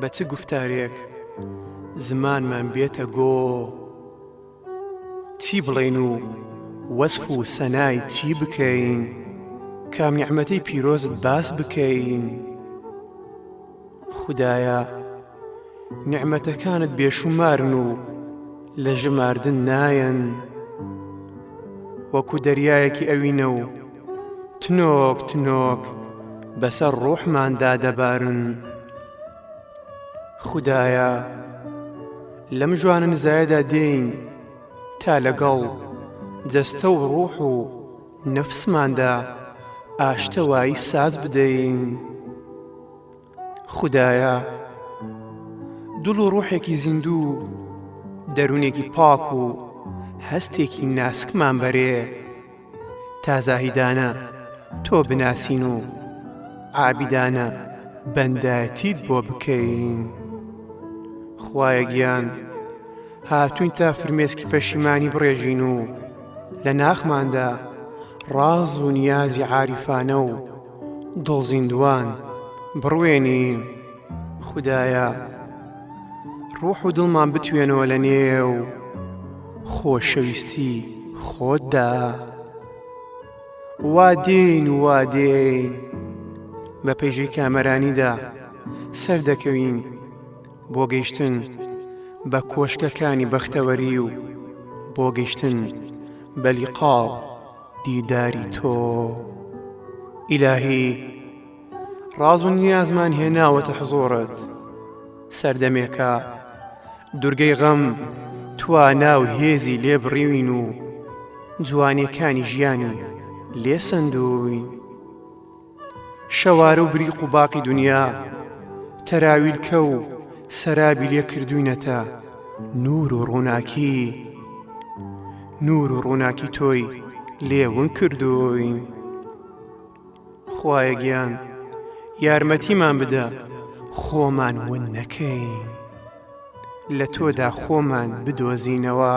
بە چ گوفتارێک زمانمان بێتە گۆ چی بڵێن و وەسف و سەنای چی بکەین کام نیعممەتی پیرۆزت باس بکەین خدایە نیعممەتەکانت بێشومارن و لە ژماردن نایەن وەکو دەریایەکی ئەوینە و تنۆک تنۆک بەسەر ڕۆحماندا دەبارن خودایە لەم ژوانەنزایەدا دێین تا لەگەڵ جەستە و ڕوح و نەفسماندا ئاشتەوایی ساز بدەین. خودایە دڵ و ڕوحێکی زیندوو و دەروونێکی پاک و هەستێکی ناسکمان بەرێ تا زاهیدانە تۆ بناسین و عابیدانە بەندایەتیت بۆ بکەین خوایە گیان هاتوین تا فرمێسکی پەشیمانی بڕێژین و لە ناخماندا ڕاز و نیازی عاریفانە و دڵزیندوان بڕوێنین خودایە ڕوح و دڵمان بتوێنەوە لە نێو خۆشەویستی خۆتدا وا دێین وا دێین بە پێژەی کامەرانیدا سەردەکەوین بۆ گەیشتن بە کۆشکەکانی بەختەوەری و بۆ گەیشتن بەلیقاو. دیداری تۆ ئیلاهی ڕاز و نیازمان هێناوەتە حزۆڕت سەردەمێکە دورگەی غەم توانا و هێزی لێ بڕیوین و جوانیەکانی ژیانی لێ سندووین شەوارە و بریق و باقی دنیا تەراویلکە و سەرابی لێ کردووینەتە نوور و ڕووناکی نوور و ڕووناکی تۆی لێ ونگ کردووین خوایە گیان یارمەتیمان بدە خۆمان ون نەکەین لە تۆدا خۆمان بدۆزینەوە.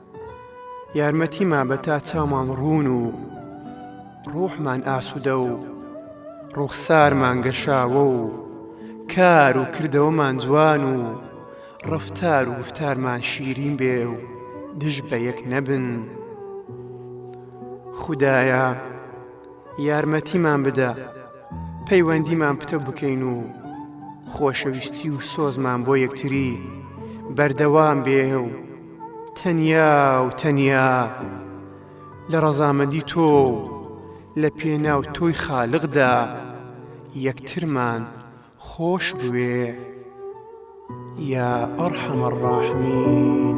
یارمەتیمان بە تا چاومان ڕوون و ڕۆحمان ئاسوودە و ڕووخسارمان گەشاوە و کار و کردەوەمان جوان و ڕەفتار و گوفتارمان شیرین بێ و دژ بە یەک نەبن. خودایە، یارمەتیمان بدە پەیوەندیمان پتە بکەین و خۆشەویستی و سۆزمان بۆ یەکتری بەردەوام بێ و تەنیا و تەنیا لە ڕەزامەندی تۆ و لە پێناو تۆی خالقدا یەکترمان خۆش بوێ یا ارحم الراحمین.